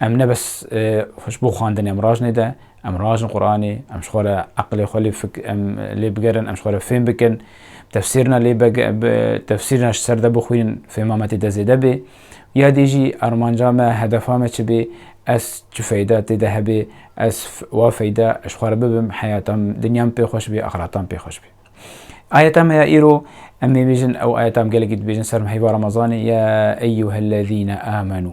Em ne bes xwe ji bo xwendinê em rajinê de, em rajin Quranê, em ji xwe re eqilê xwe lê fik em lê bigerin, em ji xwe re fêm bikin, tefsîrina lê tefsîrina ji ser de bixwînin fêma me tê de zêde bê. Ya dî jî armanca me, hedefa me çi bê, ez çi feyda tê de hebê, ez wa feyda ji xwe re bibim, heyata min, dinya min pê xweş bê, axireta min pê xweş bê. Ayeta me ya îro em ê bêjin, ew ayeta em gelekî dibêjin ser heyva Remezanê, ya eyyuhellezîne âmenû.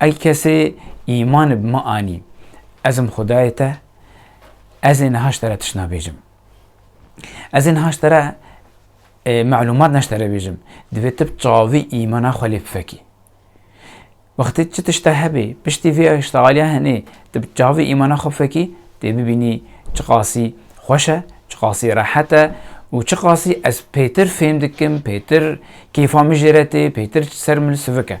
Ey kesê îman bi min anî, ez im Xwedayê te, ez ê niha ji te re tişt nabêjim. Ez ê niha ji te re melûmat ne ji te re bêjim, divê tu bi çavî îmana xwe lê bifekî. Wextê çi tişt te hebê, piştî vê tişta aliya hinê, tu bi çavî îmana xwe bifekî, dê bibînî çiqasî xweş e, çiqasî rehet e û çiqasî ez pêtir fêm dikim, pêtir kêfa min jê re tê, pêtir ser min sivik e.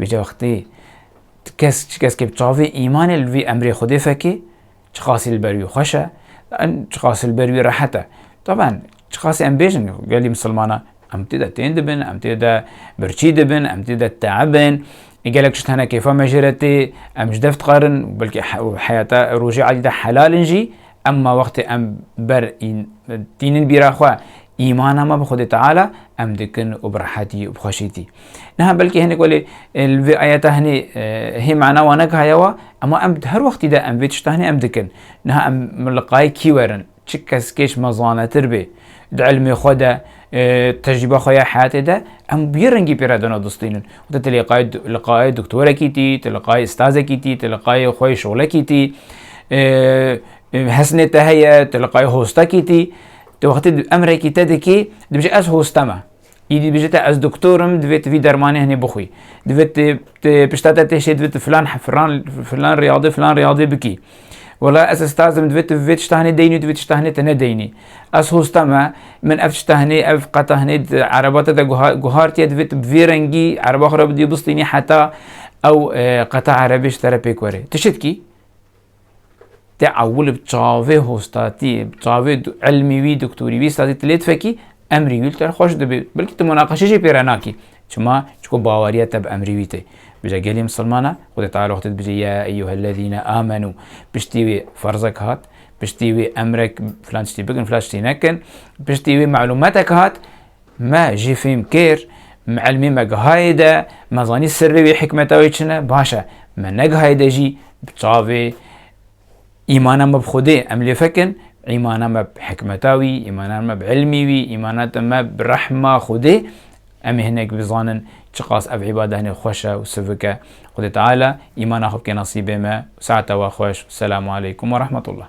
Vê wextê tu kes çi keskê bi çavê îmanê li vî emrê Xwedê fekê çiqasî li ber wî xweş e, çiqasî li ber wî rehet e. Taban çiqasî em bêjin gelî misilmanan em tê de tên dibin, em tê de birçî dibin, em tê de teebin, gelek tişt hene kêfa me jê re tê, em ji dev dixwarin belkî heyata rojê edî de helal in jî Emma wextê em ber ên tînin bîra xwe, îmana me bi Xwedê Teala, em dikin û bi rehetî û bi xweşîtî. Niha belkî hinek welê li vê ayeta hinê hê mana wan neke heye wa, emma em di her wextî de em vê tişta hinê em dikin. Niha em li qayê kî werin? Çi keskê ji me zanetir bê di ilmê xwe de, Tecrîba xwe ya heyatê de em bi yê rengî pê re dana distînin û te li qayê doktorekî tî, tu li qayê stazekî tî, tu li qayê xwe yê şolekî tî, hesnê te heye, tu li qayê hostekî tî. Tu wextê emrekî te dikî, dibêje ez hoste me. Îdî dibêje te ez doktor im, divê tu vî dermanê hinê bixwî. Divê tu pişta te tê şê divê tu filan filan riyadê filan riyadê bikî. Wela ez estazim divê tu vê tiştahinê deynî û divê tiştahinê te nedeynî. Ez hosta me, min ev tiştahinê, ev qetahinê di ereba te de guhartiye divê tu bi vê rengî ereba xwe re bidî û bistînî heta ew qeta erebê ji te re pêk were. Tu çi dikî? Te ewil bi çavê hostatî, bi çavê ilmî wî, doktorî wî, estazî tu lê difekî, emrî wî li te re xweş dibê. Belkî tu munaqeşe jî pê re nakî. Çima? Çku baweriya te bi emrê wî tê. Bije gelê misilman e, Xwedê Teala xwe tê dibije ya eyyuhellezîne amenû. Piştî wê ferzek hat, piştî wê emrek filan tiştî bikin, filan tiştî nekin, piştî wê malûmetek hat, me jî fêm kir, ilmê me gihayê de, me zanî sirrê wê hikmeta wê çi ne, baş e, me negihayê de jî bi çavê Îmana me bi Xwedê em lê fekin, îmana me bi hikmeta wî, îmana me bi îlmî wî, îmana me bi rehma Xwedê em ê hinek bizanin çiqas ev îbada hinê xweş e û sivik e. Xwedê Teala îmana xwe bike nesîbê me. Saeta we xweş. Selamu aleykum werehmetullah.